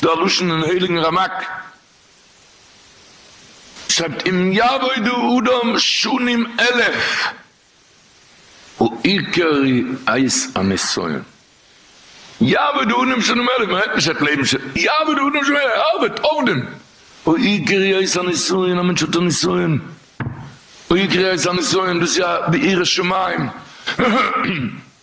דער לשון אין הייליגן רמק שרייבט אם יעבודו אדם שנים אלף העיקר איז הניסיון, יעבוד אדם שנים אלף מיינט נישט ער וועט לעבן ש, יעבוד אדם שנים אלף ער ארבעט עובדים, העיקר איז הניסיון א מענטש האט א ניסיון, העיקר איז הניסיון דאס איז א ביראת שמים.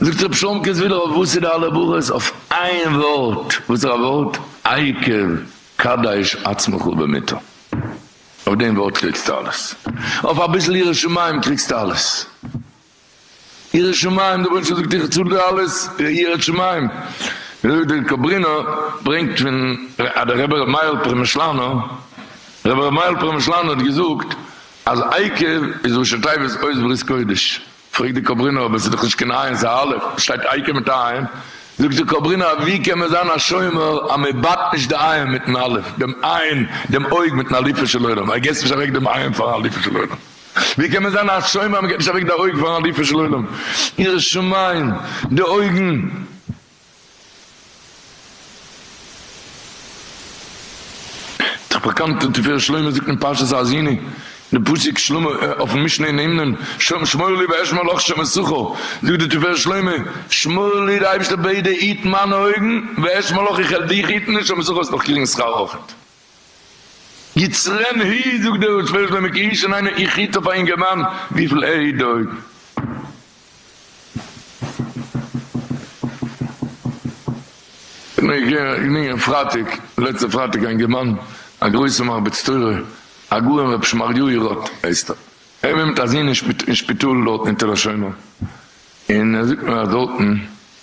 זאגט רב שלומקעס ווידער אויף וואס איז די אלע ברכות אויף איין ווארט, וואס איז א ווארט? העיקר קדש עצמך במיתה, אויף דעם ווארט קריגסטו אלעס, אויף אביסל יראת שמים קריגסטו אלעס, יראת שמים, דער רבונו של עולם זאגט איך צאל דיר אלעס יראת שמים, וויאזוי דער קאברינא ברענגט פון דער רבי רבי מאיר פרעמישלאנער, רבי רבי מאיר פרעמישלאנער האט געזאגט אז עיקר איז ראשי תיבות אויס ברית קודש. פרעגט די קאברינא אבער ס'איז דאך נישט קיין עין ס'איז א אלף, וואס שטייט אייקע מיט א עין? זאגט די קאברינא אז ווי קען מען זיין א שומר אז מען בייט נישט די עין מיטן אלף, דעם עין, דעם אויג מיטן אליפו של עולם, אז געסט נישט אוועק דעם עין פארן אליפו של עולם, ווי קען מען זיין א שומר אז מען געט נישט אוועק די אויג פארן אליפו של עולם, ירא שמים, די אויגן. דער באקאנטער תפארת שלמה זאגט אין פרשת האזיני די פסוק שלמה אויפן משנה אין נאמנים שם שמור לי ואשמור לך שם אסורך זאגט די תפארת שלמה שמור לי אייבערשטער בעט דיר היט מיינע אויגן ואשמור לך איך העל דיך היטן און שם אסורך האסט נאך קריגן שכר אויך. יצרן הי, זאגט דער ראש שלמה מעק אי שוין איינער איך היט אויף א אינגערמאן וויפיל ער היט דא אויבן. געגאנגען פרייטאג לעצטע פרייטאג א אינגערמאן א גרויסע מרביץ תורה הגאון ר' שמריהו רוט הייסט ער ער וומט אזין אין שפיטאל דארטן אין תל השומר. און ער זאגט מיר אז דארטן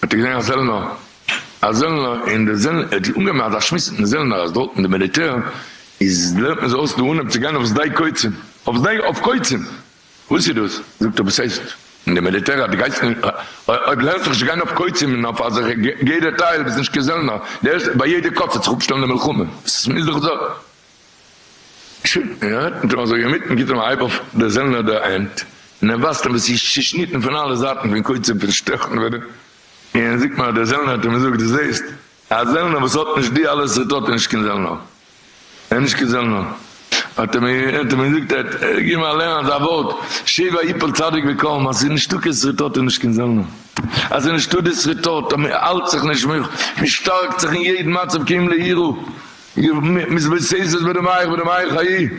האט ער געזען א זעלנער, א זעלנער און די זעלנער, ער האט אנגעהויבן אזא שמועס מיטן זעלנער אז דארטן די מיליטער איז לערנט מען זיי אויס די אנהייב צו גיין אויף שדה קוצים, אויף שדה אויף קוצים, וואס איז דאס? זאגט ער וואס הייסט אין די מיליטער אז דו גייסט נישט אויב לערנסט זיך נישט צו גיין אויף קוצים און אויף אזעלכע גדר טייל ביסט נישט קיין זעלנער, די ערשטע ביי יעדע קוץ וועט זיך אפשטעלן די מלחמה, ס'איז דאך ז. און אזוי אינמיטן גיט ער אים א הייב אויף דער זעלנער די הענט, און ער ווייזט אים וואס איז צעשניטן פון אלע זייטן פון קויטש און פון שטעכן ווערען, און זאגט נאר דער זעלנער האט אים געזאגט דו זעסט, א זעלנער וואס האט נישט די אלע סערט האט ער נישט קיין זעלנער, ער איז נישט קיין זעלנער, האט ער מיר געזאגט, ער האט געגעבן מיר אליין אזא ווארט, שבע יפול צדיק וקם, אז עס איז נישטא קיין סערט האט ער נישט קיין זעלנער, אז עס איז נישטא די סערט האט ער מען האלט זיך נישט מען שטארקט זיך אין יעדן מצב כי אם ליראה. מ'איז מתסס בדמייך בדמי חיי.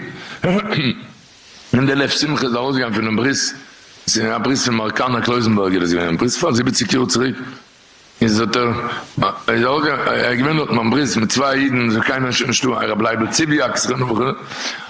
און די לב שמחה איז ארויסגעגאנגען פונעם ברוסט, עס איז געווען א ברוסט פון מארקאנא קלויזענבערגער איז געווען אין ברוסט פאר זיבעציג יאר צוריק, איז האט ער איז ארויסגעגאנגען ער איז געווען דארטן ביים ברוסט מיט צוויי אידן, עס איז קיינער נישט נישטא, הרב לייבל ציוויאק זכרונו לברכה,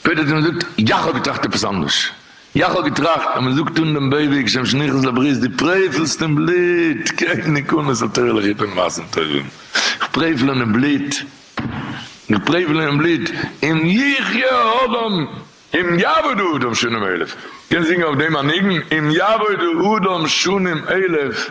שפעטער האט ער מיר געזאגט, יאך האב געטראכט עפעס אנדערש, יאך האב געטראכט אז מען זאגט אן דעם בייוועג שם שניכעס לברית די פרעפלסט אין בלוט קעגן נקמות על תורה'לעך איבער מעשים טובים, איך פרעפל און בלוט, איך פרעפל און בלוט, אם יחיה האדם אם יעבוד האדם שנים אלף, קענסט זינגען אויף דעם א ניגון, אם יעבוד האדם שנים אלף.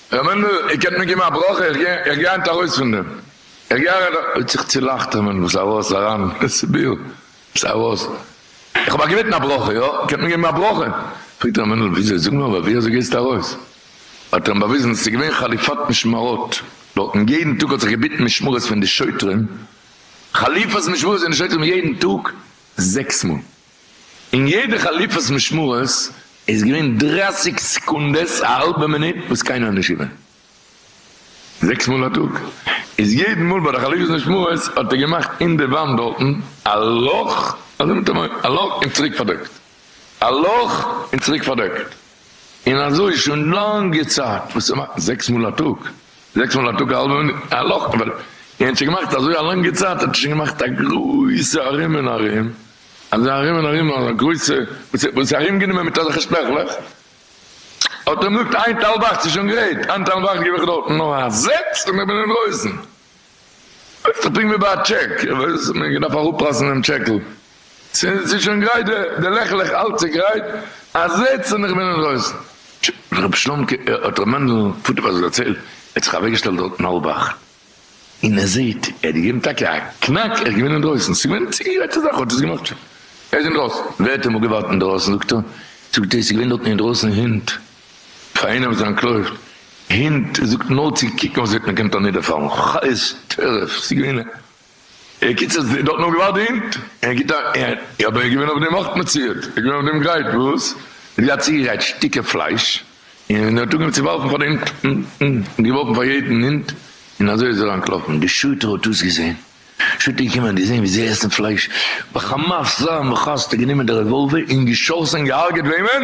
ר' מענדל, איר קענט מיר געבן א ברכה? איך גיי, איך גיי היינט ארויס פון דעם. איך גיי אריין. ער האט זיך צולאכט, ר' מענדל, זיי ארויס, אריין, סיביר, זיי ארויס. איך האב א געבעטן א ברכה, יא? איר קענט מיר געבן א ברכה? פרעגט ר' מענדל, וויאזוי, זאג נאר, אבער ווי אזוי גייסטו ארויס? האט ער אים באוויזן, ס'איז געווען חליפת משמרות דארטן, יעדן טאג האט זיך געביטן משמרות פון די שוטרים, חליפת משמרות פון די שוטרים יעדן טאג זעקס מאל. אין יעדע חליפות משמרות איז געווען דרייסיג סעקונדעס א האלבע מינוט וואס קיינער איז נישט געווען. זעקס מאל א טאג איז יעדן מאל ביי די חליפות משמרות האט ער געמאכט אין די וואנט דארטן א לאך אזוי מיט א מויל א לאך און צוריק פארדעקט א לאך און צוריק פארדעקט און אזוי שוין לאנגע צייט וואס ער מאכט זעקס מאל א טאג זעקס מאל א טאג א האלבע מינוט א לאך און ער האט שוין געמאכט אזוי א לאנגע צייט האט ער שוין געמאכט א גרויסע ארום און ארום. אזא ארום און ארום אזא גרויסע וואס איז וואס איז ארום גענומען מיט אזעלכע שטרעכלעך האט אים געזאגט איינטעל וואך ס'איז שוין גרייט איינטעל וואך גיב איך דארטן נאר א זעץ און איך בין אינדרויסן לויפט זיך פונקט ווי ביי א טשעק וואס מען געדארף אראפלאזן דעם טשעקל ס'איז שוין גרייט די לעכלעך אלץ איז גרייט א זעץ און איך בין אינדרויסן האט ר' שלומ'קע האט ר' מענדל פאטער פאר זיך דערציילט ער האט זיך אוועקגעשטעלט דארטן האלב אכט. און ער זעהט ער האט געגעבן טאקע א קנאק ער איז געווען אינדרויסן ס'איז געווען צוגעגרייט צו זאך ער האט עס געמאכט שוין ער איז אינדרויסן ווער האט אמאל געווארט אינדרויסן זאגט ער זאגט ער ס'איז געווען דארטן אינדרויסן הינט פאר איינער וואס איז אנטלויפט הינט זאגט נאר צו קוקן וואס וועט מיר קענט אנידערפאלן חיות טרף ס'איז געווען בקיצור, דארטן האבן געווארט די הינט, ער גיבט א, אבער ער איז געווען אויף דעם אויך מציית, ער איז געווען אויף דעם גרייט וואס? ער האט געהאט צוגעגרייט שטיקער פלייש, און ער האט אנגעהויבן צו ווארפן פאר די הינט, און געווארפן פאר יעדן הינט, און אזוי איז ער אנטלאפן. די שוטה האט דאס געזען, שוטה איז געקומען, האט געזען ווי זיי עסן פלייש, בחמס זעם וחסד האט גענומען די רעוואלווער און געשאסן, געהארגעט וועמען?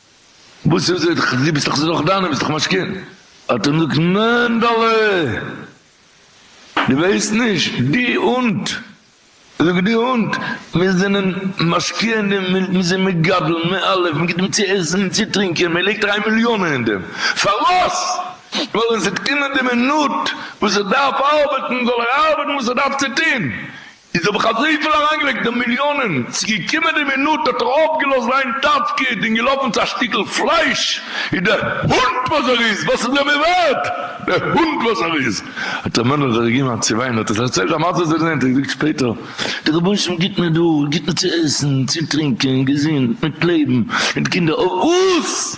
וואס איז עס? דו ביסט דאך ס'איז דאך דיינע, ביסט דאך משכון. האט ער אים געזאגט, מענדעלע! דו ווייסט נישט, די הונט! ער זאגט, די הונט! מיר זענען משכונים, מיר זענען מגדלים, מען האלף, מען גיט אים צו עסן און צו טרינקען, מען לייגט אריין מיליאנען אין דעם. פארוואס? ווייל ווען ס'וועט קומען די מינוט וואס ער דארף ארבעטן, זאל ער ארבעטן וואס ער דארף צו טון. איז האב איך אזויפיל אריינגעלייגט די מיליאנען, ס'געקומען די מינוט האט ער אויפגעלאזט זיין תפקיד און געלאפן צו א שטיקל פלייש, איז דער הונט וואס ער איז, וואס איז ער מיר ווערט, דער הונט וואס ער איז, האט ר' מענדל זיך געגעבן א צווויין, האט ער זיך דערציילט א מעשה וואס ער האט געזען, האט ער געזאגט שפעטער, דער רבונו של עולם גיט מיר דא, גיט מיר צו עסן, צו טרינקען, געזונט, מיט לעבן, מיט קינדער, אויף וואס?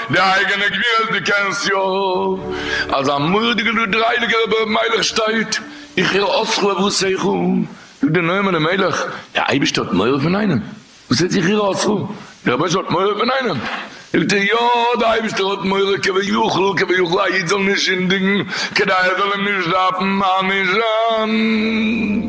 די אייגענע גבירות דו קענסט יא? אז א מורדיגער דו דרייליגער אבער אויב מלך שטייט איך איר אסרו אבער עשיך זאגט די נועם אלימלך די אייבישטער האט מורא פון איינעם וואס ער זיך איר אסרו די רבונו של האט מורא פון איינעם זאגט ער יא די אייבישטער האט מורא כ ו יחל כ ו יחל א איד זאל נישט זינדיגן כדי ער זאל אים נישט דארפן מענישען.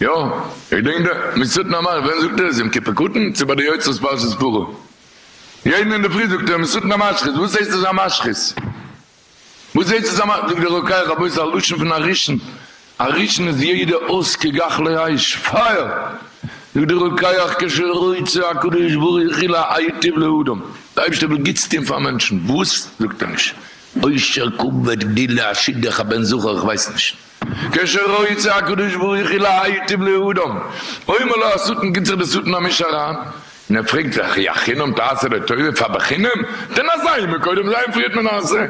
יא, איך דענק דער מסרטן המאריך, ווען זאגט ער עס? יום כיפור קטן? צו ביי די יוצרות פרשת פרה? יעדן אינדערפרי זאגט ער מסרטן המשחית, וואס הייסט עס א משחית? וואס הייסט עס א משחית? זאגט דער רוקח רבותי א לשון פון א ראשון, א ראשון איז יעדע אויס כגחלי אש, פייער! זאגט דער רוקח כשרוצה הקדוש ברוך הוא להיטיב לאדם, דער אייבערשטער וויל גוטס טון פאר מענטשן, וואס? זאגט ער נישט עושר כבד גדילה א שידוך א בן זכר איך ווייס נישט, כשרוצה הקדוש ברוך הוא להיטיב לאדם, אומר לו השטן גיט זיך די שטן א מיש אריין, און ער פרעגט זיך, אי החינם תעשה לטובה, פאר בחינם? דען אזא אימא קודם זיי און פריערט מען עשה,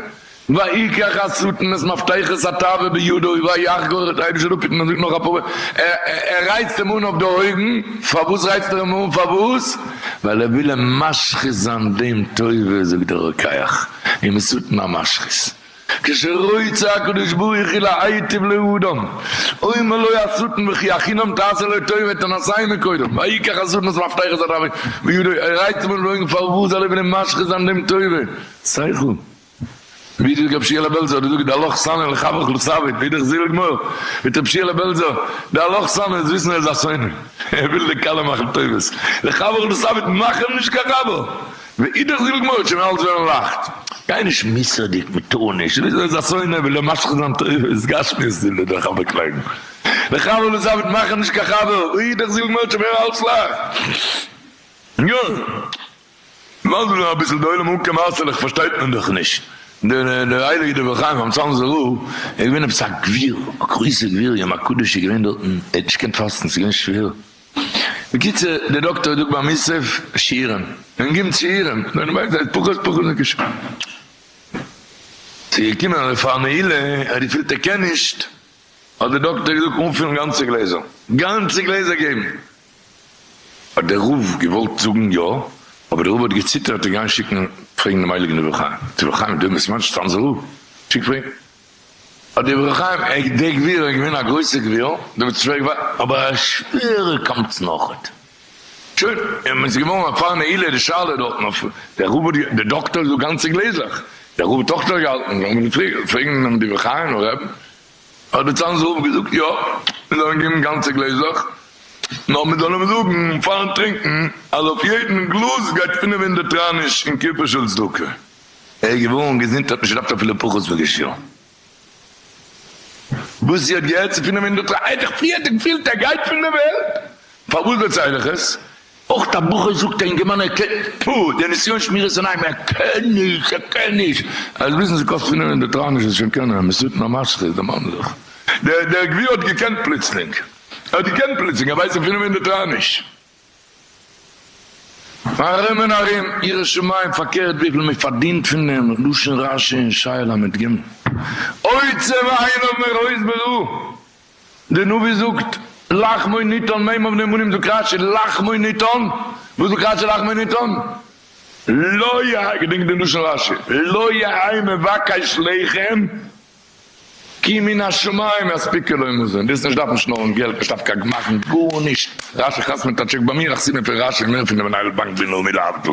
ויקח השטן את מפתחות התאווה בידו ויחגור את האיש שלא פיתן, מען זאגט נאך אפאר ווערטער, ער רייצט אים אן אויף די אויגן, פארוואס רייצט ער אים אן פארוואס? ווייל ער וויל אים משחית זיין דעם טובה, זאגט דער רוקח, אים איז שטן א משחית. כשרוצה הקדוש ברוך הוא להיטיב לאדם אומר לו השטן וכי הכינם תעשה לו טוב וועט ער נסיים אים קודם ויקח השטן את מפתחות הדבר בידו ער רייסט אים אן די אויגן פארוואס זאל ער וועלן משחית זיין דעם טובה שכל ווי דער גבשיעלע בעלזא האט געזאגט די הלוך סנה לחברך לא סווית אידעך זיל גמור וועט רבי שיעלע בעלזא די הלוך סנה איז וויסן ער איז א שונא ער וויל די כלה מאכן טובות לחברך לא סווית מאך אים נישט קיין חבר. ואידך זיל-גמור, שוין אלס ווערן לייכט. גיי נישט מוסר'דיג מיט טאניש, וויאזוי איז א שונא וויל ער משחית זיין תורות גשמיות זיל ער דער חבר קלעבן, דער חבר וואס ער וועט מאכן נישט קיין חבר, ואידך זיל-גמור שוין ווערן אלס לייכט. יא, לאז מיר נאר אביסל די עולם אנקומען אסעלעך פארשטייט מען דאך נישט, דער הייליגער דברי חיים אמסאלמ'ס רב איז געווען עפעס א גביר, א גרויסער גביר, יום הקדוש איז געווען דארטן, ער האט נישט געקענט פאסטן, ס'איז געווען שווער, בקיצור דער דאקטאר איז דא ביים מוסף שיעורים און גיבן שיעורים און דערנאך זענען פחות פחות נפגשים. ס'איז געקומען אז פאר נעילה האט געפילט ער קען נישט האט דער דאקטאר געזאגט אנפילן גאנצע גלעזער, גאנצע גלעזער געבן. האט דער רב געוואלט זאגן יא אבער דער רב האט געציטערט צו גיין שיקן פרעגן דעם הייליגן אור החיים. דער אור החיים איז דא אין באסמאנט שטאנץ זאל, שיק פרעגן. האט די ברך חיים עק דער גביר איז געווען א גרויסער גביר דער וואס איז שווער געוואר אבער א שווערע קמצן אויך האט שוין און מען איז געווארן א פאר נעילה די שאלה דארטן אויף דער רב האט דער דאקטאר איז דא גאנצע גלעזלעך דער רב האט אויך דארט געהאלטן זאל מען פרעגן דעם די ברך חיים רב האט דער צאנזער רב געזאגט יא מען זאל אים געבן גאנצע גלעזלעך נאר מען זאל אים זאגן פארן טרינקן אז אויף יעדן גלאז גייט פינף הונדערט רייניש און קופה של צדקה. ער איז געווארן געזונט האט נישט געדארפט אפילו פחות וגישור. וואס זי האט געהערט צו פונעם אינדוטרא ער האט זיך פריער האט ער געפילט ער גייט פון די וועלט, פארוואס דערצייל איך עס? אויך א בחור זאגט א אינגערמאן ער קען, טפו, די נסיון שמירת עיניים ער קען נישט ער קען נישט, ער זאל וויסן ס'קאסט פונעם אינדוטרא נישט וואס שוין קענען, מ'זאגט נאר משכיל די מאן זיך. דער גביר האט געקענט פלוצלינג, ער האט געקענט פלוצלינג ער ווייסט נישט פונעם אינדוטרא נישט. ארום און ארום ירא שמים פארקערט וויפיל מען פארדינט פון דעם לשון רשע און שי ל מיט גימל אוצר ועין האבן מיר הויז ברא די נביא זאגט לחמו ניתן מ' אבן אמונים זאגט רש י לחמו ניתן וואס זאגט רש י לחמו ניתן לא יהא געדענקט די לשון רש י לא יהא מבקש לחם. כי מן השמים יספיקו לו מזון, וועסט נישט דארפן שנארן געלט, נישט דארפן קיין גמח'ן, גארנישט, רשי חתמ'עט א טשעק ביי מיר, א חסיד מפי רשי, מער פון די מנהל באנק בינלאומי להבדיל.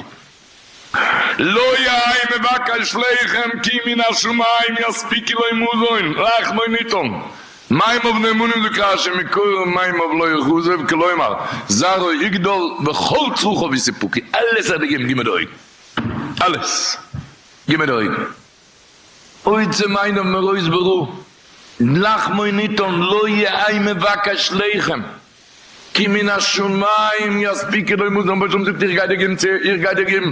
לא יהי' מבקש לחם כי מן השמים יספיקו לו מזון, רחמנותן, מים אויף נאמנים זאגט רשי מקור מים אויף לא יכזב, כלומר, זרעו יגדל וכל צרכיו יסופקו, אלעס האט ער געגעבן גימט די אויגן, אלעס, גימט די אויגן. אוי צו מיינער מראות ברא לחמו ניתן לא יהי' מבקש לחם כי מן השמים יספיקו לו מזון באשם זאגט איך גיי דיר געבן צו איך גיי דיר געבן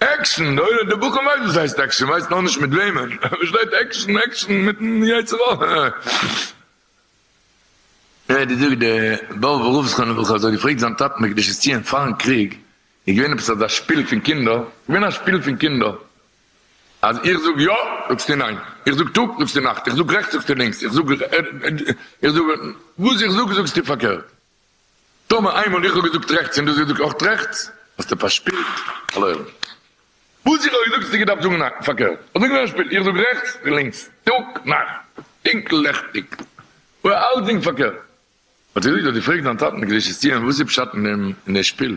עקשן, אולי די בחור ווייסט וואס הייסט עקשן, ווייסט נאר נישט מיט וועמען, ער פארשטייט עקשן, עקשן מיטן יצר הרע. די זאגסט די באבע רב זכרונו לברכה האט זיך געפרעגט זיין טאטן בקדושת ציון פארן קריג איז געווען עפעס אזא שפיל פון קינדער איז געווען א שפיל פון קינדער אז איך זאג יא זאגסטו ניין איך זאג טאג זאגסטו נאכט איך זאג רעכטס זאגסטו לינקס איך זאג איך זאג וואס איך זאג זאגסטו פארקערט טאמער איינמאל איך האב געזאגט רעכטס און דו האסט געזאגט אויך רעכטס, האסטו פארשפילט אן עולם. וואס איך האב געזאגט האסטו געדארפט זאגן פארקערט. אזוי געווען א שפיל, איך זאג רעכטס, דו לינקס, טאג, נאכט, טונקל, לעכטיג, אלסדינג פארקערט. האט ער געזאגט אז דו פרעגסט דיין טאטן קדושת יו ט וואס איז פשט אין דעם שפיל,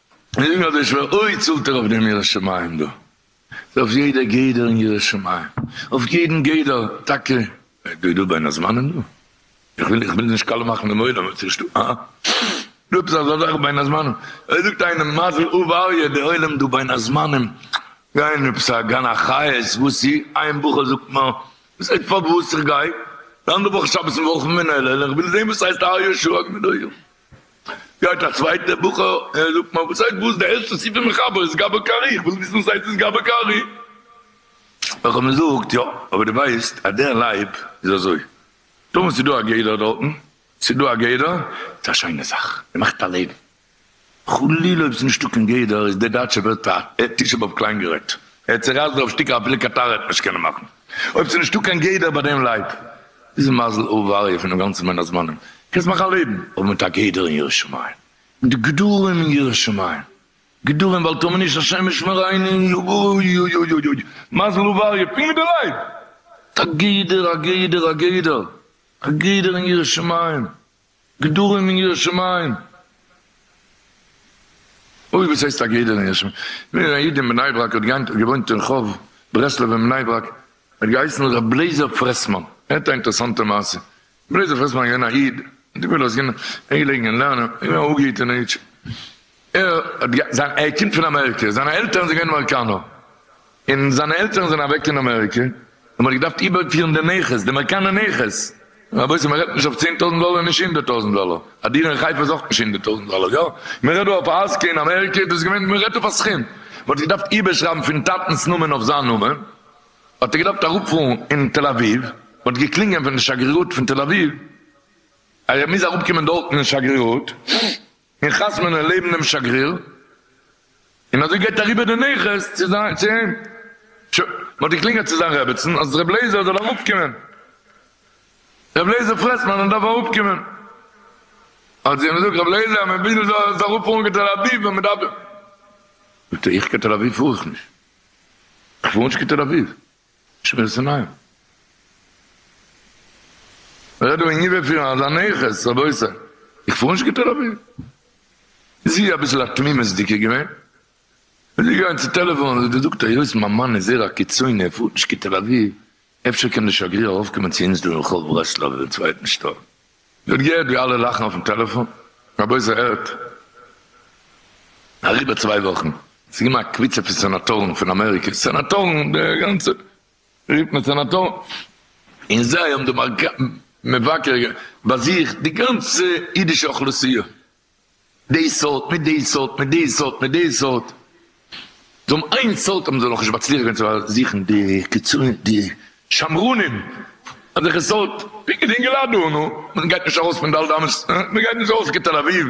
און אויב איז שווער אוי צאלט ער אויף דעם ירא שמים דא איז אויף יעדע גדר אין ירא שמים אויף יעדן גדר טאקע דא דא בין הזמנים דא איך וויל איך וויל נישט קאלע מאכן דעם עולם אויב ס'איז שטא אה דא עפעס אזא זאך בין הזמנים אויב זאגט איינער מזל אוו אריה די עולם דא בין הזמנים גייען עפעס א גן החיות וואס אי איין בחור זאגט מיר וואס הייסט פארוואס איך גיי די אנדערע וואך שבת און וואלף מנהל איך וויל זעהן וואס הייסט אריה שרגא דא. גייט א צווייטער בחור און זאגט מיין וואס הייסט וואס די ערשטע ספר מחבר איז גאבא קארי איך וויל וויסן וואס הייסט דאס גאבא קארי איך האב אים געזאגט יא אבער די ווייסט אז דער לייב איז אזוי טאמער ס'דא א גדר דארטן ס'דא א גדר איז א שיינע זאך ער מאכט א לעבן חלילה אויב ס'נישטא קיין גדר איז דער דייטשער ווערט א תשעה באב קליין גערעדט ער האט צורייסט דערויף שטיקער אפילו קיין טאר עט נישט קענען מאכן אויב ס'איז נישטא קיין גדר ביי דעם לייט איז מזל אויב וואריע פונעם גאנצן בין הזמנים קענסט מאכן א לעבן אבער מיט א גדר אין ירא שמים מיט גדרים אין ירא שמים גדרים ואל תאמין איש השם ישמרני אוי אוי אוי אוי אוי מזל אויב וואריע פונקט ווי די לייט מיט א גדר א גדר א גדר א גדר אין ירא שמים. גדרים און יראת שמים. אוי וואס הייסט א גדר און יראת שמים? מיר א איד אין בני ברק האט געיינט געוואוינט אין רחוב ברסלב אין בני ברק, ער האט געהייסן ר' בלעזער פרעסמאן, הערט א אינטערסאנטע מעשה, בלעזער פרעסמאן איז געווען א איד, האט געווען אז ער איז געווען אינגעלעגן אין לערנען, ער איז געווען א אפגעהיטענע אידשע, ער האט גע זיין ער קומט פון אמעריקא, זיינע עלטערן זענען געווען אמעריקאנער, און זיינע עלטערן זענען אוועק אין אמעריקא, און מען האט געדארפט איבערפירן די נכס, די אמעריקאנער נכס, רבותי מען רעדט נישט אויף צען טויזנט דאלער, נישט הונדערט טויזנט דאלער, א דירה אין חיפה איז אויך נישט הונדערט טויזנט דאלער, יא, מען רעדט דא אויף א אזקע אין אמעריקא, דאס איז געווען, מען רעדט אויף א סכום, מען האט געדארפט איבערשרייבן פון טאטנ'ס נאמען אויף זיין נאמען, האט ער געדארפט אראפפארן אין תל אביב, מען האט געקלינגען פון די שגרירות פון תל אביב, אז ער מוז אראפקומען דארטן אין שגרירות. און חתמ'נען לעבן דעם שגריר, און אזוי גייט אריבער די נכס צו זיין צו אים, שוין, מ'האט געקלינגעלט צו זיין רעבעצן אז ר' לעיזער זאל אראפקומען, ר' לעיזער פרעסמאן איך דארף אראפקומען, האט זי אים געזאגט ר' לעיזער מיר ווילן זאלסט אראפפארן קיין תל אביב ווען מ'דארף דיך, זאגט ער איך קיין תל אביב פאר איך נישט, איך פאר נישט קיין תל אביב. שווער צו נייען. מ'רעדט דא אין ייווא פיר אזא נכס רבותי. איך פאר נישט גוט אריבער. איז זי אביסל א תמימות'דיגע געווען. איז זי געגאנגען צו טעלעפאן האט זי געזאגט היות מיין מאן איז זעהר א קיצוני ער פארט נישט קיין תל אביב אפשר קען די שגריר ארויפקומען צו אונז דא אין רחוב ברסלב אין צווייטן שטאק זי האט געהערט ווי אלע לאכן אויפן טעלעפאן, רבותי זי הערט אריבער צוויי וואכן, ס'איז געווען א קבוצה פון סענאטארן פון אמעריקע, סענאטארן די גאנצע רופט מען סענאטארן, און זיי האבן דערמאנט מבקר באזוכט די גאנצע אידישע אוכלוסייה, די סארט מיט די סארט מיט די סארט מיט די סארט, זיי האבן איין סארט האבן זיי נאך נישט מצליח געווען צו זוכן די קיצונים די שמרנים אזעלכע סארט פונקט ווי אינגעלייט דא נו מען גייט נישט ארויס פון ד' אמות מען גייט נישט ארויס כתל אביב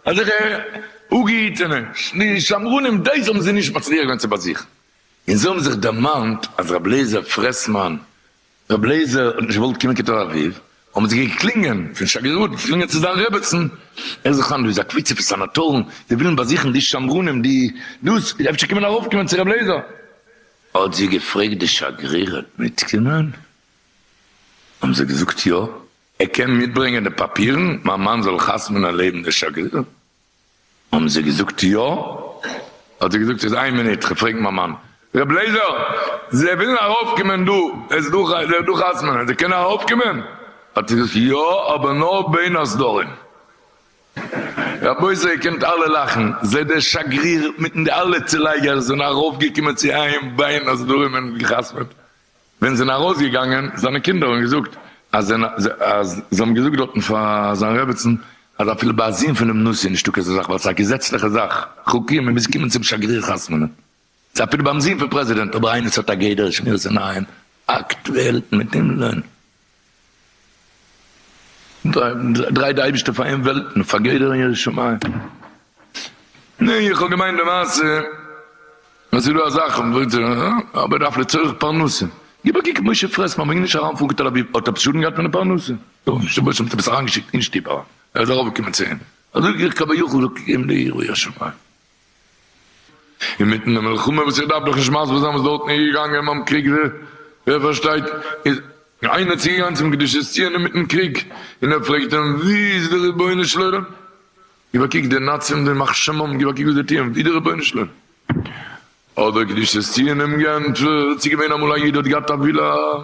אזעלכע אפגעהיטענע די שמרנים דעיס האבן זיי נישט מצליח געווען צו באזוכן און זיי האבן זיך דערמאנט אז רבי אליעזר פרעסמאן רבי לעזער האט נישט געוואלט קומען קיין תל אביב, האבן זיי געקלינגען פון שגרירות, געקלינגען צו זיין רעבעצן, ער זאגט היינט דא איז א קבוצה פון סענאטארן, זיי ווילן באזוכן די שמרנים, די דאס, אפשר קען מען ארויפקומען צו רבי לעזער? האט זי געפרעגט די שגרירת מיטקומען? האבן זיי געזאגט יא. ער קען מיטברענגען די פאפירן, מיין מאן זאל חתמ'נען לעבן די שגריר? האבן זיי געזאגט יא, האט זי געזאגט איז איין מינוט כ'פרעג מיין מאן, ר' לעיזער זיי ווילן ארויף קומען דא, עס איז דא עס איז דא חתמנ'ען זיי קענען ארויף קומען? האט זי געזאגט יא אבער נאר בין הסדרים. רבותי איר קענט אלע לאכן, זיי דער שגריר מיטן די אלע צולייגערס זענען ארויף געקומען צו איהם בין הסדרים און געחתמ'עט, ווען זענען ארויס געגאנגען זיינע קינדער און געזאגט אז זיי האבן געזאגט דארטן פאר זיין רעבעצן אז אפילו ביי א זון פונעם נשיא איז נישטא כזה זאך ווייל ס'איז א געזעצליכע זאך חוקי מען מוז קומען צום שגריר חתמ'נען ס'איז אפילו ביים זון פון פרעזידענט אבער איינער ס'האט א גדר שמירת עיניים אקטועל מיט הימלען. דריי די אייבישטער פאר אים וועלטן פאר גדר און ירא שמים. ניין איך האב געמיינט די מעשה אז ס'איז דא א זאך אבער דארף לצורך פרנסה גיב א קוק משה פרעס מ'מעג נישט אריין פארן קיין תל אביב האט ער שאדן געהאט פון די פרנסה? נו נישט אמת האט ער עפעס אריין געשיקט אין שטוב אריין ער איז ארויף געקומען צו אים אזוי גיך כביכול זאגט אים די ירא שמים. אינמיטן די מלחמה, וואס איך דארף דאך נישט מסביר זיין וואס דארטן איז געגאנגען ביים קריג, ווער פארשטייט, איז איינער צוגעגאנגען צום קדושת ציון אינמיטן קריג, און ער פרעגט אים, וואו איז די רבונו של עולם? גיב א קוק, די נאצים, די יימח שמם, גיב א קוק וואס זיי טוען, וואו די רבונו של עולם? האט דער קדושת ציון אים געענטפערט, ס'איז געווען אמאל א איד האט געהאט א ווילא,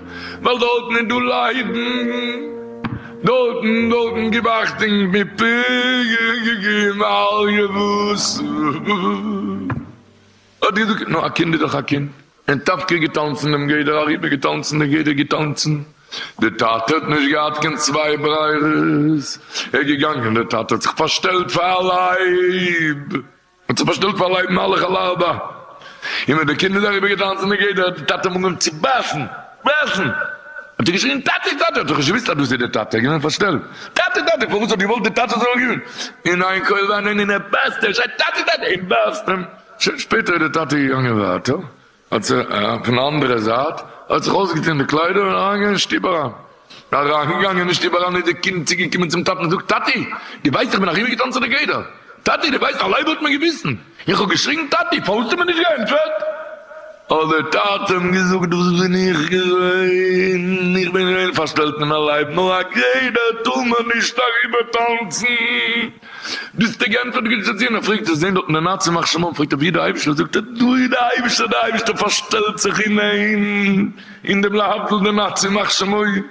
ווייל דארטן איז דא ליידן, דארטן, דארטן גיב אכטונג מפגעים ואל יבוסו, האט געזאגט נו א קינד איז דאך א קינד, און טאפקער געטאנצן דעם גדר אריבער געטאנצן דער גדר געטאנצן, דער טאטע האט נישט געהאט קיין צוויי ברירות, ער איז געגאנגען דער טאטע האט זיך פארשטעלט פאר א לייב. מען האט זיך פארשטעלט פאר לייב מלאך על הארבע, און ווען די קינד איז אריבער געטאנצן אין גדר האט די טאטע אים אנגעהויבן צו בייסן, בייסן, האט ער געשריען טאטי טאטי, האט ער נישט געוויסט אז דאס איז די טאטע, ער איז געווען פארשטעלט, טאטי טאטי, פארוואס האט געוואלט די טאטע זאל רירן, אין איין קויל וויינען און ער בייסט, ער שרייט טאטי טאטי, און בייסט אים, שוין שפעטער איז די טאטע געגאנגען ווייטער, האט זיך פון די אנדערע זייט, ער האט זיך אויסגעטון די קליידער און אריינגעגאנגען אין שטוב אריין. אריינגעגאנגען אין שטוב אריין איז די קינד צוגעקומען צום טאטן און זאגט, טאטי, דו ווייסט איך בין אריבערגעטאנצן די גדר. טאטי, דו ווייסט א לייב האט מען געביסן. איך האב געשריגן, טאטי, פארוואס האסטו מיר נישט געענטפערט? האט דער טאטע אים געזאגט, דאס בין איך געווען. איך בין געווען פארשטעלט אין א לייב, נאר א גדר טאר מען נישט אריבערטאנצן. ביסטו גענטפערט גוט צו ציון, ער פרעגט ער זעהן דארט אין די נאצי מח שמם פרעגט ער ווי איז די אייבישטער זאגט ער דא איז די אייבישטער די אייבישטער פארשטעלט זיך אין אים אין דעם להבדיל די נאצי מח שמים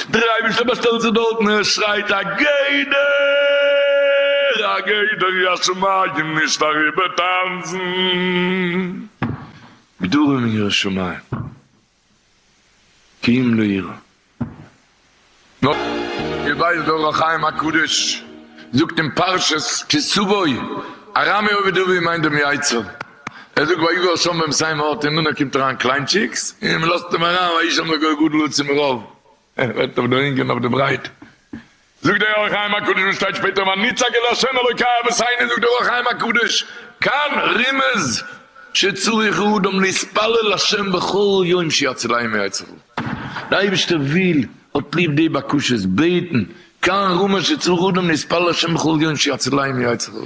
דער אייבישטער באשטעלט זיך דארטן ער שרייט א גדר א גדר יא שמים נישט אריבער טאנצן גדרים אין ירא שמים. טיעם לאיר. נאר איר ווייסט דער אור החיים הקדוש זאגט אין פרשת כי סבו ארמי עובד אביו מיינט דעם יצר ער זאגט ויגור שם ביים סעים ארט און דאנער קומט אריין קליינטשיקס און מ'לאזט אים אריין וישם לגוי גדול עצום רב ער רעדט אויף די לענג און אויף די ברייט. זאגט דער אור החיים הקדוש וואס שטייט שפעטער ואני צעקה להשם אלוקי אבות עיני זאגט דער אור החיים הקדוש כאן רמז שצריך האדם להתפלל להשם בכל יום שיציליה מיצריו די אייבערשטער וויל האט ליב די בקשות בעטן כאן רמז שצריך האדם להתפלל להשם בכל יום שיציליה מיצריו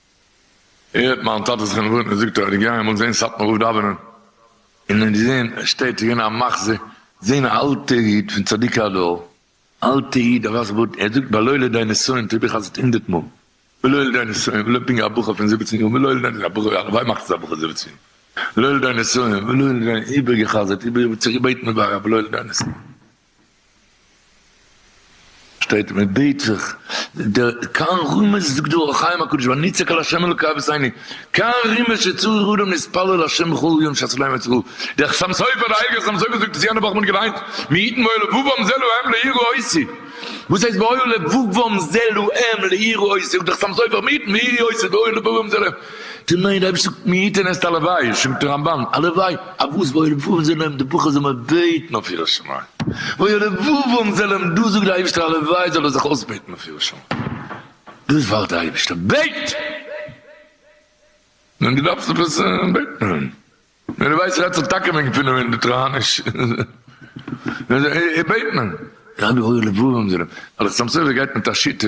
הערט מיין טאטע זיך אין ווארענען זאגט ער אז איך גיי אמאל זעהן סאטמאר רב דאווענען און ער זעהן ער שטייט צו געבן א מחזה זעהן א אלטע איד פון צדיקי הדור אלטע איד א ווייסע בארד ער זאגט בלא לידי נסיון טוה איך אז הונדערט מאל בלא לידי נסיון ולא פינגער א בחור פון זיבעצן יאר בלא לידי א בחור הלוואי מאכט עס א בחור זיבעצן יאר בלא לידי נסיון ולא לידי איבער געחזרט איבער צוגעבעטן מיט ווארע בלא לידי נסיון. שטייט מען בעט זיך, דער קאן רומז זאגט דא אור החיים הקדוש ונצעק אל ה' אלוקי אבותינו, קאן רומז שצריך אדם להתפלל לה' בכל יום שעת עולה מצריו, דער חתם סופר דער הייליגער חתם סופר זאגט עס יענע וואך מען האט געליינט, מי יתן באוהל לבבם זה להם להירא עושי, וואס הייסט באוהל לבבם זה להם להירא עושי, זאגט דער חתם סופר מי יתן והי' עושי באוהל לבבם זה להם. טו ניין, דער אייבערשטער זאגט מי יתן עסט א לוואי, שוין מיטן רמב ם, א לוואי, א וואס וואו רבבות זענען די בוכער זאל מען בעטן אויף יראת שמים, וואו רבבות זענען דא זאגט דער אייבערשטער א לוואי זאל ער זיך אויסבעטן אויף יראת שמים, דאס ווארט דער אייבערשטער, בעט! נו דו דארפסט עפעס בעטן? נו דו ווייסט רעדסט דאך טאקע וועגן פינעם און די טראניש, בעט מען. רבי הוי רבבות זענען, ווייל א סתם סופר גייט מיט א שיטה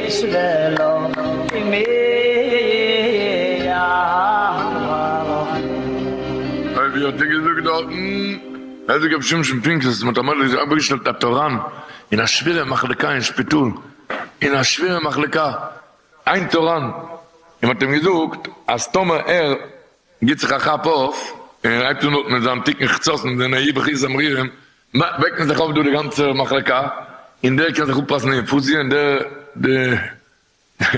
איז וועלכע מאה האלחין? אויב האט ער געזאגט דארטן איז ער געווען שמשון פינקלס וואס מען האט אמאל אוועקגעשטעלט א טאראן אין א שווערע מחלקה אין שפיטאל, אין א שווערע מחלקה איין טאראן, און מען האט אים געזאגט אז טאמער ער גיבט זיך א כאפ אויף און הייבט אן אטעמען זיין תיקון חצות און זענען ע י בכיס זמרירים וועקט מען זיך אויף דא די גאנצע מחלקה, און דער קען זיך אפפאסן די אינפוזיע, און דער די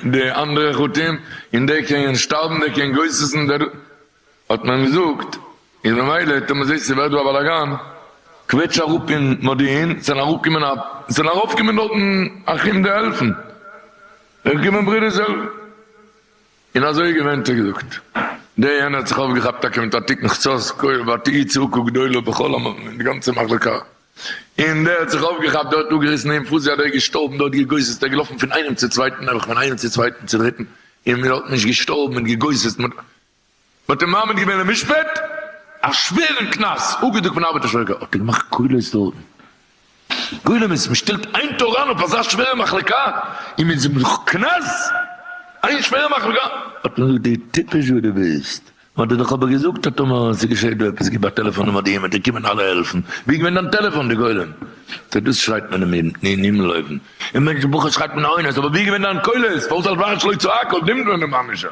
די אנדערע חטאים, און דער קען שטארבן, דער קען גוסס'ן, דער האט מען געזאגט, איז ממילא טאמער זעסטו ס'ווערט דא א באלאגאן, קוועטש אראפ אין מודיעין, ס'זענען אראפגעקומען א ס'זענען ארויפגעקומען דארטן אחים די העלפן, זענען געקומען ברודערס העלפן. און אזוי איז געווען האט ער געזאגט. דער יענער האט זיך אויפגעכאפט טאקע מיט א תיקון חצות כהויב ותהי צעקה גדולה בכל המקום אין די גאנצע מחלקה, און דער האט זיך אויפגעכאפט דארט אפגעריסן אים פוזי אדער געשטארבן דארט געגוססט ער געלאפן פון איינעם צו צווייטן נעבעך פון איינעם צו צווייטן צו דריטן און מען האט נישט געשטארבן מען האט געגוססט מען האט מען האט אים מעמיד געווען למשפט, א שווערן קנס אפגעדרוקט פון ארבעטער שרגא האט ער געמאכט קולות דארטן, גולמות, מען שטעלט איין תורן אויף אזא שווערע מחלקה און מען זאגט נאך קנס, איין שווערע מחלקה, האט מען געזאגט די טיפש וואס דו ביסט, מען האט דיר דאך אבער געזאגט אז טאמער ס'געשעט דא עפעס גיב א טעלעפאן נומער די מ'עט דיר קומען אלע העלפן, ווי איז געווען דיין טעלעפאן די גולם, צו דאס שרייט מען אין הימל אויבן, אין מענטשן בחוץ שרייט מען עונות, אבער ווי איז געווען דיין קולות, פארוואס אלץ ווארטסט לויט צו האק אויב נעמט מען אים עמישער,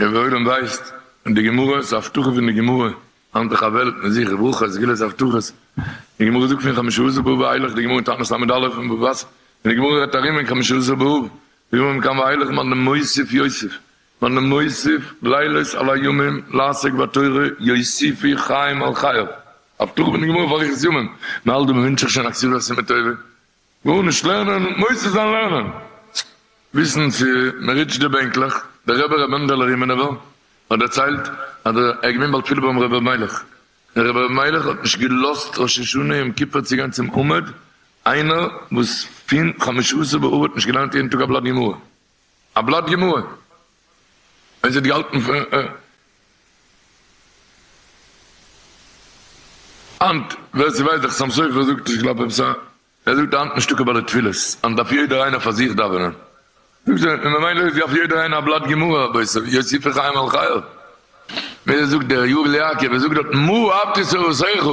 און ווי עולם ווייסט די גמרא, ס'איז א הבטחה פון די גמרא, האלט איך א וועלט מיט זיך, וברוך ה' סגולת הבטחות, די גמרא זאגט פון חמשה עשר באב ואילך, די גמרא אין תענית ל' אלף און בב אסף, און די גמרא רעדט ארום אין חמשה עשר באב, די גמרא מכאן ואילך מען מוסיף יוסיף, מען מוסיף לילות על הימים לעסוק בתורה יוסיפו חיים על חייו, הבטחה פון די גמרא פאר אריכות ימים, מען האלט דא מען ווינטש זיך שוין א כסדר עשה מטובה, גארנישט לערנען, מוסיף זיין לערנען, וויסן צו מען ריטשט די בענקלעך, דער רבי ר' מענדעלע רימינובער האט דערציילט אז ער איז געווען בעל תפילה ביים רבי אבימלך, דער רבי אבימלך האט נישט געלאזט ראש השנה יום כיפור צו גיין צום עמוד, איינער וואס פון חמשה עשר באב האט נישט געליינט יעדן טאג א בלאט גמרא. א בלאט גמרא און זי האט געהאלטן פון היינט, ווער ס'ווייסט דחסם סופר זאגט נישט כלפי בשר, ער זאגט היינט נישט דוקא ביי די תפילות, היינט דארף יעדער איינער פאר זיך דאווענען, זאגט זי, און ממילא איז דארף יעדער איינער א בלאט גמרא, רבותי יוסיפי חיים על חייו, ווי אזוי זאגט דער יואל יעקב, ער זאגט דארט מו אבתי סורותיך,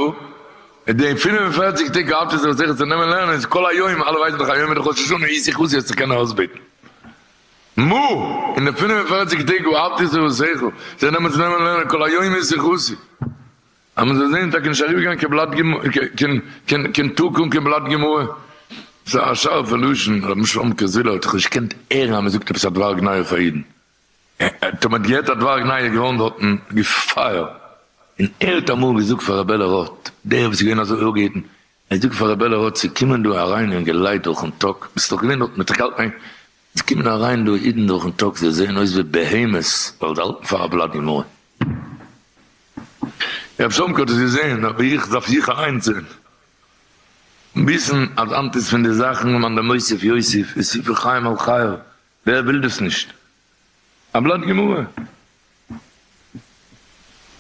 אין די פֿינף און פֿערציק טעג האלט איר זיך זיכער צו נעמען לערנען איז כל היום, אלע ווייסן דאך היום איז ראש השנה איר זיכט וואס איר האט צו קענען אויסבעטן. מו, אין די פֿינף און פֿערציק טעג וואו האלט איר זיך וואס זיכער זיך נעמען צו נעמען לערנען כל היום איר זיכט וואס איר. אז מען זאל זעהן טאקע נישט אריבערגיין קיין בלאט גמרא קיין טאג אן קיין בלאט גמרא. ס'איז א שארפע לשון, רבי שלום קאזיל האט דאך נישט געקענט הערן אז מען זאגט עפעס א דבר גנאי אויף א אידן. טאמער די עטרת ווארג נייע גראונד האטן געפייער און ער האט אמאל געזאגט פאר רעבעלע רוט דער וואס איז געווען אזוי אויפגעהיטן ער זאגט פאר רעבעלע רוט ס'איז קומען דא אריין אינגעלייט דורכן טאג ביסט דאך געווען דארט מיט ר' קאלטער היינט ס'איז קומען אריין דא אידן דורכן טאג זיי זעען אויס ווי בהמות ווייל זיי האלטן פאר א בלאט גמרא רב שלמ'קע האט עס געזעהן אבער איך דארף איך אליינס זעהן און וויסן אז היינט איז פון די זאכן למאן דמוסיף יוסיף איז ספר חיים על חייו ווער וויל דאס נישט? א בלאט גמרא.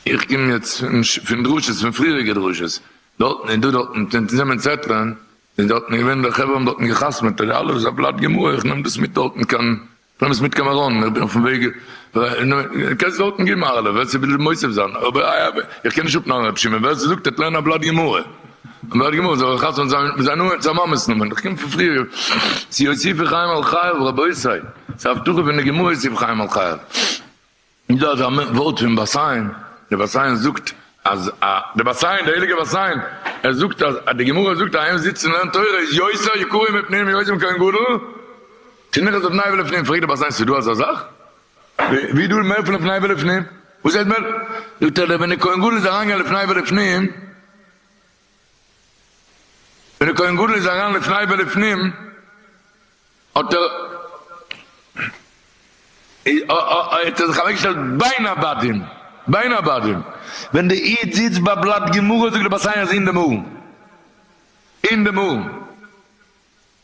איך קום יעצט פון דרשות, פון פריעריגע דרשות, דארטן און דא דארטן, און צו נעמען צעטלען, איז דארטן געווען די חברה האבן דארטן געחתמעט און אלעס, א בלאט גמרא, איך נעם דאס מיט דארטן קיין, איך נעם עס מיט קיין מירון, איך בין אויפן וועג, קענסט דארטן געבן א הערלה ווער ס'וויל מוסיף זיין, אבער איך קען נישט אפנארן רבי שמעון, ווער ס'זאגט ער האט לערנען א בלאט גמרא. און דארט געמאכט זיך א חתונה זיין מיט זיין נאמען, זיין מאמע'ס נאמען, איך קום פון פריער צו יוסיפי חיים על חייו, רבותי, ס'איז א הבטחה פון די גמרא יוסיפי חיים על חייו, איז דא אזא ווארט פון בת עין, די בת עין זאגט אז א, די בת עין, די הייליגע בת עין, ער זאגט אז די גמרא זאגט אז איינער וואס זיצט און לערנט תורה איז יוסר יקרים מפנינים יוזם כהן גדול, תניחא זבניו לפנינים, פרעגט די בת עין ס'איז דא אזא זאך? ווי דא איז מער פון לפני ולפנים, וואס הייסט מער? זאגט ער ווען די כהן גדול איז אריין געגאנגען לפני ולפנים, ווען די כהן גדול איז אריין לפני ולפנים, האט ער האט ער זיך אוועק געשטעלט בין הבדים, בין הבדים, ווען די איד זיצט ביי בלאט גמרא זאגט די בת סיון אז אין דעם ארון, אין דעם ארון.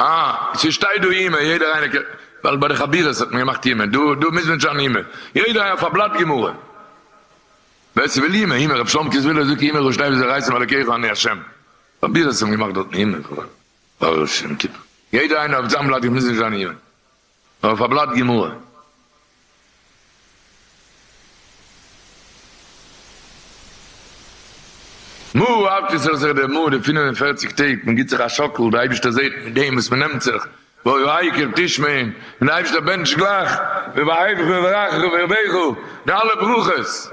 אה, ס'שטייט דא אימער, יעדער איינער קען, ווייל ביי די חבירות האט מען געמאכט אימער, דא דא מוז מען נישט זיין אימער, יעדער איינער אויף א בלאט גמרא, ווער ס'וויל אימער אימער, רב שלום קריסווילער זאגט אימער און שניי ווי זיי רייסן עם אלקיך ואני השם, חבירות האבן געמאכט דארטן אימער, פאר ראש השנה און יום כיפור, יעדער איינער אויף זיין בלאט מוז נישט זיין אימער. נאר אויף א בלאט גמרא. מו ה אב ד זאל זיך דערמאנען די פֿינף און פֿערציק טעג, מען גיט זיך א שאקל, די אייבישטער זעט מיט דעם וואס מען נעמט זיך, והוי העיקר תשמעון, און די אייבישטער בענטשט גלייך, ובאהבך וברכך ובערבך, די אלע ברכות.